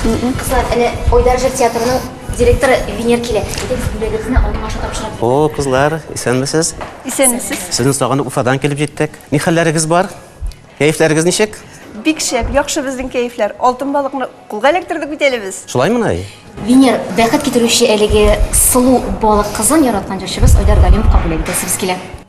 Кызлар, әнә Ойдар җыр театрының директоры Венер килә. Әйдә, бүләгезне аның аша тапшырып. О, кызлар, исәнмесез? Исәнмесез. Сезне сагынып Уфадан килеп җиттек. Ни хәлләрегез бар? Кәефләрегез ничек? Бик шәп, яхшы безнең кәефләр. Алтын балыкны кулга эләктердек бит әле без. Шулаймы, Най? Венер, бәхет китерүче әлеге сылу балык кызын яраткан җырчыбыз Айдар Галимовка бүләк итәсебез килә.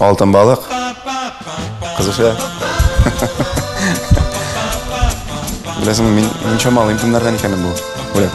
Алтын балык. Кызыша. Беләсең, мин мин чамалыйм кемнәрдән икәнен бу. Бүләк.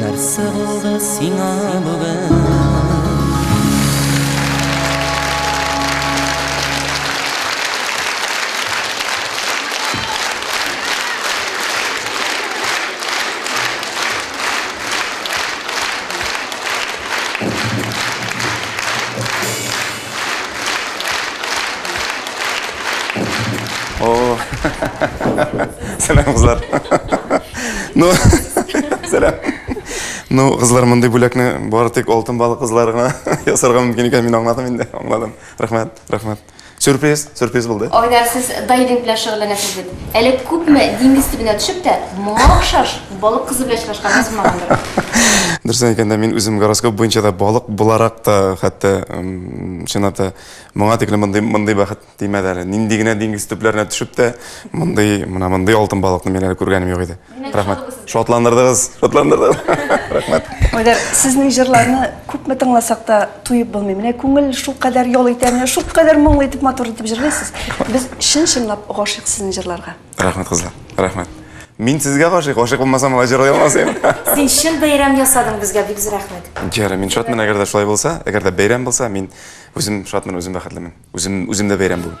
Нәрсә булды сиңа бүген? О, сәлам, кызлар. Ну, сәлам. Ну, кызлар, мондый бүләкне бары тик алтын балык кызлары гына ясарга мөмкин икән, мин аңладым инде, аңладым. Рәхмәт, рәхмәт. Сюрприз, сюрприз булды. Айдар, сез дайвинг белән шөгыльләнәсез бит. Әле күпме диңгез төбенә төшеп тә, моңа охшаш Балык кызы белән очрашкан язылмагандыр. Дөресен әйткәндә, мин үзем гороскоп буенча да балык буларак та, хәтта чынлап та моңа тиклем мондый мондый бәхет тимәде әле. Нинди генә диңгез төпләренә төшеп тә, мондый мына мондый алтын балыкны мин әле күргәнем юк иде. Рәхмәт. Шатландырдыгыз, шатландырдыгыз. Рәхмәт. Айдар, сезнең җырларны күпме тыңласак та туеп булмый. Менә күңел шул кадәр ял итә, менә шул кадәр моңлы итеп, матур итеп җырлыйсыз. Без чын-чынлап гашыйк сезнең җырларга. Рәхмәт, кызлар. Рәхмәт. Мин сезгә гашыйк, гашыйк булмасам, алай җырлый алмас идем. Син чын бәйрәм ясадың безгә, бик зур рәхмәт. Җәре, мин шатмын, әгәр дә шулай булса, әгәр дә бәйрәм булса, мин үзем шатмын, үзем бәхетлемен. Үзем үзем дә бәйрәм бүген.